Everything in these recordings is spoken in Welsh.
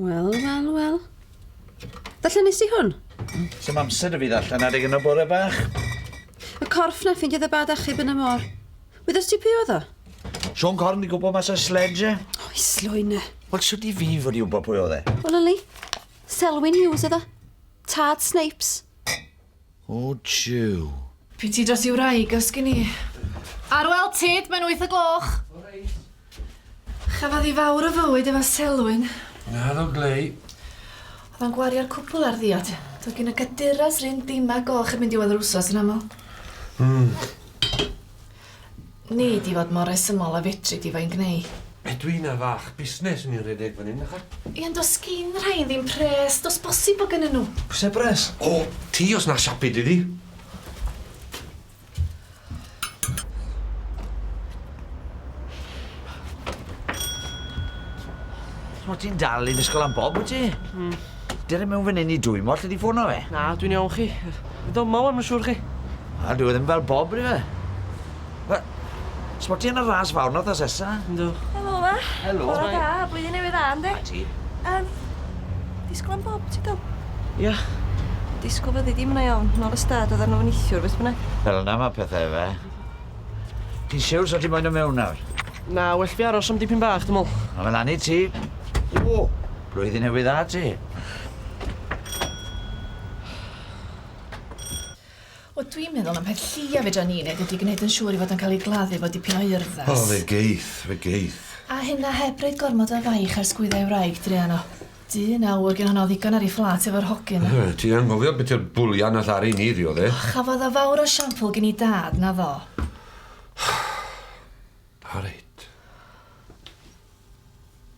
Wel, wel, wel. Darllen nes i hwn? Sy'n amser y fi ddarllen adeg yn y bore bach. Y corff na ffindiodd y bad achub yn y môr. Wyddost ti pwy oedd o? Sean Corn di gwybod mas o sledge. O, i slwyne. Wel, sut i fi fod i wybod pwy oedd e? Wel, Lily, Selwyn Hughes oedd o. Tad Snipes. O jiw! Pryd ti dros i wraig os gin i? Ar wel tyd, mae'n wyth o gloch. O reit. Chafodd hi fawr o fywyd efo Selwyn. Naddo Glei. Oedd o'n gwario'r cwpwl ar ddiod. Doedd gin y caduras r'un dima goch heb mynd i weld yr wsos yn aml. Mm. Nei di fod mor resymol a fedri di fo i'n gneu? Ydw i na fach busnes yn un rhedeg fan hyn ychydig? Ie ond does gin rhain ddim pres, does bosib bod gynnyn nhw. Oes e bres? O! Ti os na siapu di di! Wyt ti'n dal i ddisgwyl am Bob wyt ti? Hmm. Dere i mewn fan 'yn i dwymo allet ti ffono fe? Na, dwi'n iawn chi. Dyma wan ma' siŵr chi. Na, dyw e ddim fel Bob ydyw e? Fe- Sbot ti yn y ras fawr nawr tha sesa? Yndw. Helo 'ma. Helo. Bore da, blwyddyn newydd dda yndi? A ti. Yym disgwl am Bob ti do? Ia. Disgwl fyddi di ma' 'na iawn, nôl y stad oddan nw nithiwr beth bynnag. Fel yna ma' pethe efe. Ti'n siwr sa ti moyn do' mewn nawr? Na, well fi aros am dipyn bach dwi me'wl. Ma' fe lan i ti. O! Blwyddyn Newydd Dda ti. Wel, dwi'n meddwl na peth llia fedra ni wneud ydy gwneud yn siŵr ei fod yn cael ei gladdu efo dipyn o urddas. O, fe geith, fe geith. A hynna heb roid gormod o faich ar sgwydda ei wraig druan o. Dyn aur, gin honno ddigon ar ei fflat efo'r hogyn. O, ti anghofio beth yw'r bwlian nath Ari ni ddiodde'. O, chafodd o fawr o siampl gin ei dad, na ddo. O reit.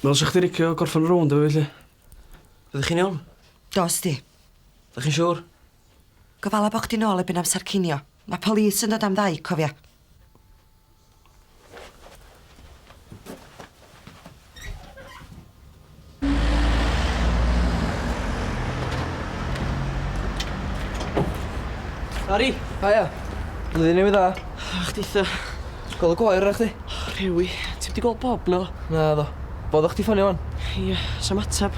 Wel, sa chdi licio gorffan y rownd efo fi, 'lly? Ydych chi'n iawn? Dos di. Ydych chi'n siŵr? Gofala bo' chdi nôl erbyn amsar cinio. Ma' police yn dod am ddau, cofia. Bari! Haia! Blwyddyn Newydd Dda. A chdi-tha. Ti gweld y gwair arna chdi? O, rhewi. Ti wedi gweld Bob, no? Na, ddo. Bodd o'ch ti ffonio wan? Ia, sam atab.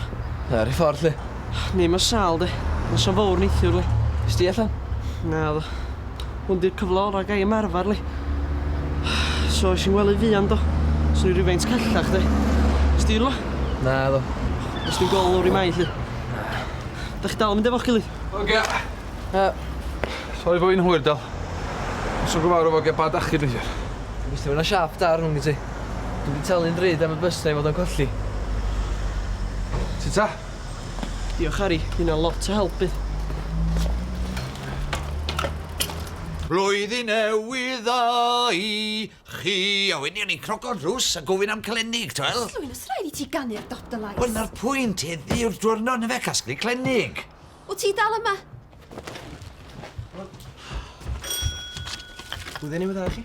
Na, rhi ffordd, lle. Ni, mae sal, de. Mae'n sam fawr neithiwr, le. Ysdi allan? Na, ddo. Hwn di'r cyfle orau gai ymarfer li. So eisiau ngwely fuan do. Os ni rhywfaint callach de. Os di rhywle? Na do. Os ni'n gol lawr i mai lli. Da chi dal yn mynd efo'ch gilydd? Ogia. Okay. Uh, Sori bod fi'n hwyr dal. Os o'n gyfarw fo gen bad achub eisiau. Gwrs ti fyna siap da rhwng i ti. Dwi'n di talu'n ddrud am y bus na i fod yn colli. Ti ta? Diolch Harri, ma' hynna'n lot o help bydd. Blwyddyn Newydd dda i chi! A wedyn ni'n croco'r drws a gofyn am clennig, ti'n wel? Llwyn, os rhaid i ti ganu ar dop dy lais. Wel, na'r pwynt, heddi yw'r diwrnod na fe casglu clennig. O ti dal yma? Blwyddyn Newydd dda i chi.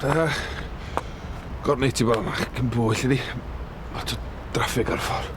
Da. Gornau ti bod yma, cyn bwyll i di. Lot o draffig ar y ffordd.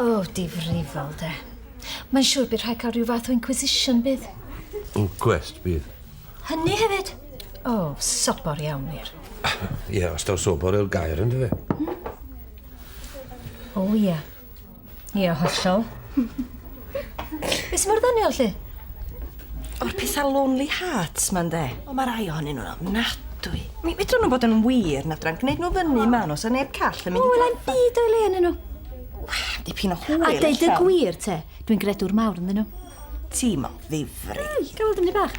O, difrifol, de. Mae'n siŵr bydd rhaid cael rhyw fath o inquisition, bydd? Inquest, bydd. Hynny hefyd? O, oh, sobor iawn wir. Ie, yeah, os daw sobor yw'r gair, ynddo fe? Hmm? O, oh, ie. Yeah. Ie, yeah, hollol. Beth sy'n mor ddoniol, lle? O'r petha lonely hearts 'ma ynde? O ma' rai ohonyn nhw'n ofnadwy. Mi fedrwn nhw fod yn wir na fedran gneud nhw fyny ma nhw sa neb call yn mynd i O elai'm byd o'i le ynnyn nhw. Wel dipyn o hwyl A deud y gwir te dwi'n gredwr mawr ynddyn nhw. Ti'm o ddifri. Wel gawn weld 'im byd bach.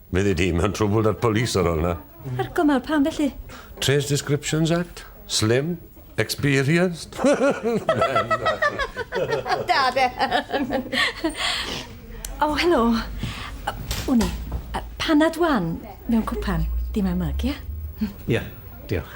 Fyddi di mewn trwbl da'r police ar ol 'na. Ar gymal pam felly? Trace Descriptions Act? Slim? Experienced? Da de! O, helo. Wn i. Panad wan mewn cwpan, dim am myg, ia? Ia, diolch.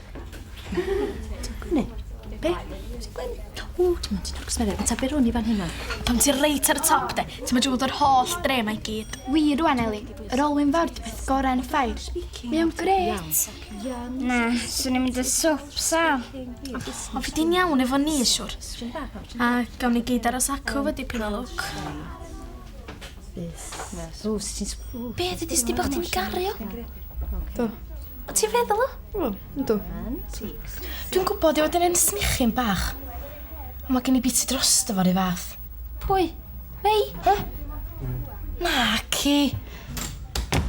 Gwne? Be? Ti'n gwyn? O, dim ond ti'n orfod gwsmeriaid. Mae ta byr hwn i fan hynna. Tom, ti reit ar y top, de. Ti'n mynd drwy'r holl dre mae gyd. Wir rwan, Eli. Yr olwyn fawr di beth gorau yn y ffair. Mae o'n gret. Na, swn i'n mynd y swp, sal. O, fi di'n iawn efo ni, siwr. A gawn ni gyd aros acw fo dipyn o lwc. Fus. Fus. O, sut ti'n... sp- Be, ddudis di bod chdi'n gario? Do. O, ti'n feddwl o? O, ynddo. Dwi'n gwybod i fod yn un snichyn bach. Ond mae gen i biti dros dy fori fath. Pwy? Mei? He? Na, ci.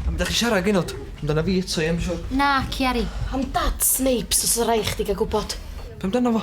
Am ydych chi siarad gynod? Amdana fi eto, ie, mae'n siwr. Na, Ciari. Am dad Snapes os y rai chdi gael gwybod. Pam dyna fo?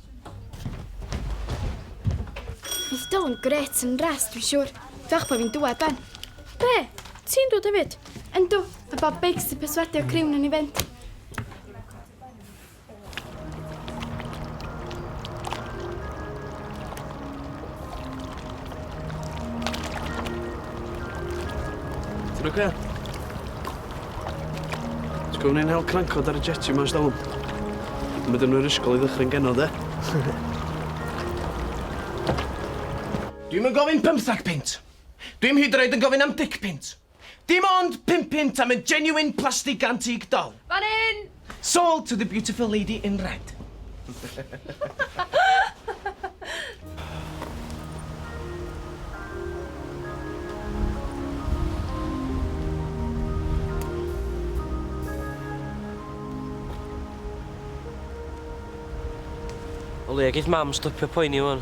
Bydd Dylan gret yn res, dwi'n siŵr. Fiach pa fi'n dwed, Ben. Be? Ti'n dod hefyd? Yndw, fe bod beics i perswadio criwn yn ei fynd. Ti'n oce? Okay? Ti'n gwybod ni'n hel crancod ar y jetty mas dawn? Mae dyn nhw'r ysgol i ddychryn genod, e? Dwi'm yn gofyn pymthag pint. Dwi'm hyd yn oed yn gofyn am dic pint. Dim ond pum punt am y genuine plastig antique doll. Fan hyn! Sold to the beautiful lady in red. O leia geith mam stopio poeni ŵan.